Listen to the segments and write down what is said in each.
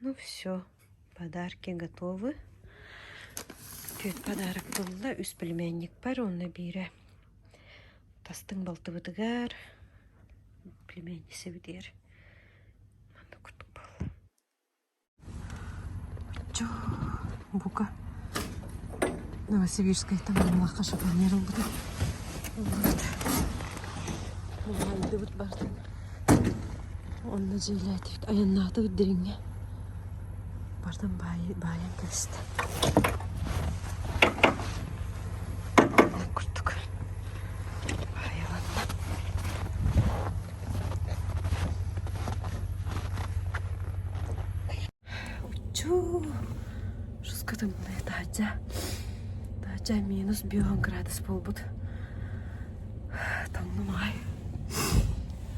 Ну все, подарки готовы. Түөрт подарок булла, үс пельменник бар уонна биирэ тастыҥ балтыбытыгар пельмени сибитигэр аны кутук буолла. Чо, бука Новосибирскайтан Амалахха шифоньер ылбыта. Булган дыбыт барды. Онно дьиэлээтик айаннаатыбыт дириҥҥэ бардым баайан кэбистэ ол курдук баайаланна Уччу русскатын былай таача таача минус бион градус буолбут таҥным аҕай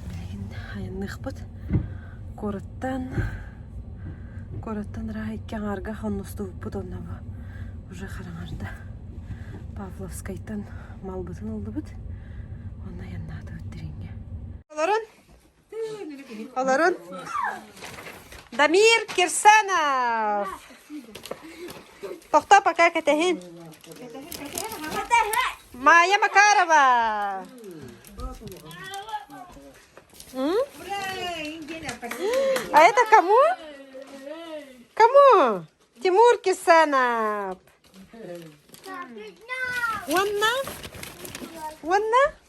билигин айанныахпыт куораттан куораттан ыраах икки аҥаарга хонностубуппут онно бу уже хараҥарда Павловскайтан малбытын ыллыбыт онно айаннаатыбыт дириҥҥэ Олорун Дамир Кирсанов. Тохто пока кэтэһин. Майя Макарова. А это кому? Кому? Тимур Кирсанов. Wanna? Wanna?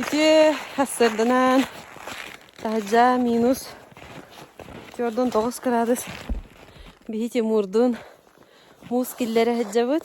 Ити сарданан таһырдьа минус төрдун тоҕус кыраадыс биһи Тимурдун муус киллэрэ сылдьабыт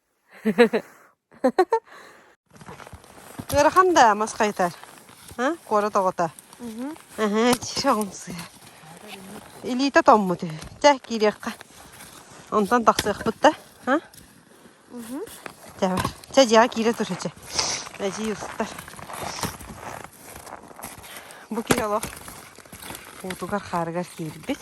Ыарахан да мас хайытар? Куорат оҕото. Чоҕумсуйа. Илиитэ томмут үһү. Чэ, киириэххэ. Онтон тахсыахпыт да. Чэ бар. Чэ, дьиэҕэ киирэ тур, чэ. Эдьиий устар. Бу киһи олох уутугар-хаарыгар киирбит.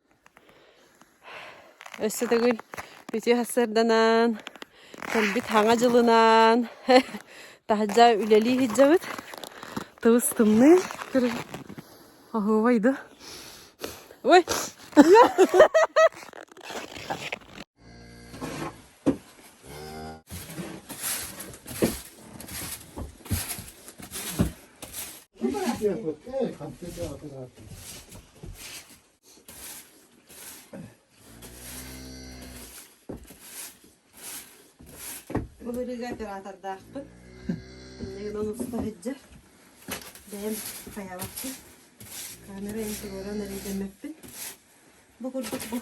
Өссө төгүл үтүө сарсыарданаан, кэлбит Хаҥа дьылынаан таһырдьа үлэлии сылдьабыт. Тыбыс тымныы көрүҥ. Оһуобай да. Ой! Бу быһыыга оператордаахпын. Иннигинэн уста сылдьар. Бэйэм хайаабаппын. Камера интегралын эрэйдэммэппин. Бу курдук бу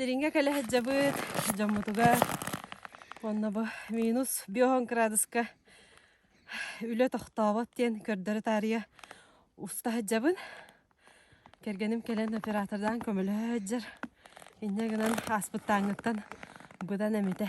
Дириҥҥэ кэлэ сылдьабыт дьоммутугар уонна бу минус биоһун кыраадыска үлэ тохтообот диэн көрдөрө таарыйа уста сылдьабын. Кэргэним кэлэн оператордаан көмөлөһө сылдьар. Инньэ гынан ааспыттааҥҥыттан быдан эмитэ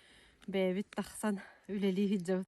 бэйэбит тахсан үлэлии сылдьабыт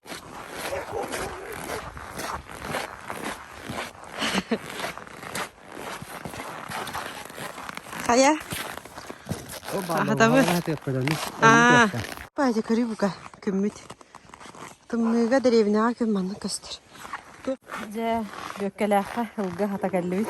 Хайа? Хатабы. Аа. Бача көрі бука күммүт. Тымныыга деревняға күн манны көстөр. Тук, дьэ, Бүөккэлээххэ ылга хата кэллибит.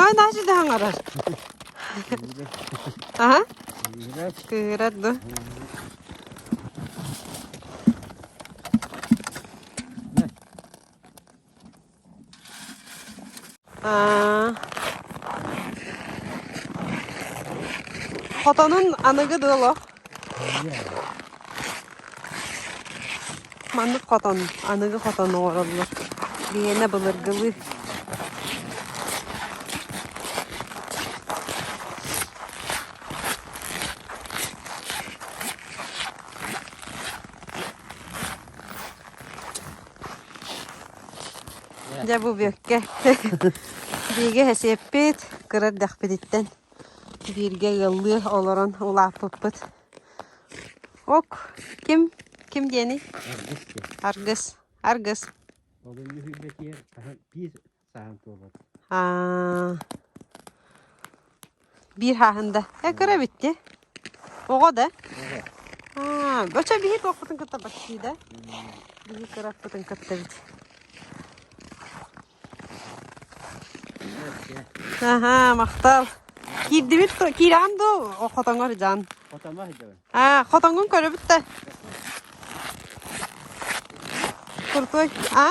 Аа наачыды хаҥарар аа кыырат ду Хотонун аныгы да олох Маннык хотон, аныгы хотон оҥороллор. Биһиэнэ былыргылыы. Дьэ бубекке бииргэ эсиэппит кыра эрдэхпититтэн бииргэ ыаллыы олорон улааппыппыт. Ок ким ким диэний? Аргыс. Аргыс. Биир хааһын да. Э, көрөбүт те. Оҕо да? Аа, бөчө биһи кылаппытын кытта баттыы да? Биһи кыраппытын кытта бит. Аха, махтал. Киирдибит, киирән ду хотоңор жан. Хотоңор жан. А, хотоңун көрөбүт те. Крутой. А?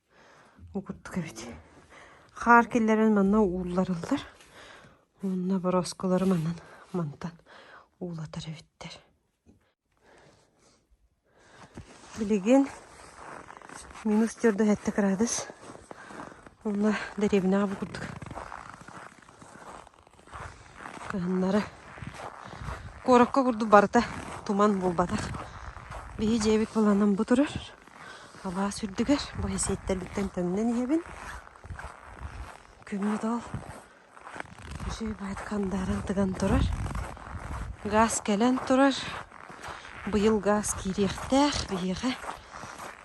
Угуттук эбит. Хаар киллэрэн манна уулларыллар. Уонна боросколору манан мантан уулатар эбиттэр. Билигин минус төрдүс этэ градус. Уонна дэриэбинэҕэ бу курдук Кыһыннары куоракка курдук барыта туман булбатах. Биһи дьиэбит быланан бу турар. Алаас үрдүгэр бу сииттэрбиттэн төннөн иһэбин. Күммүт ол дьиэ баайт хандааран тыган турар. Гаас кэлэн турар. Быйыл гаас киириэхтээх биһиэхэ.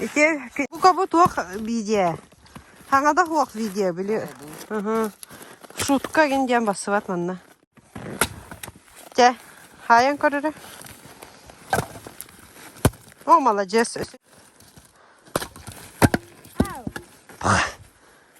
Ити бука-бу туох видео? Хаҥада суох видео били. Шутка ин диэн бассыбат манна. Дьэ, хайан көрөрө. О, маладьыас.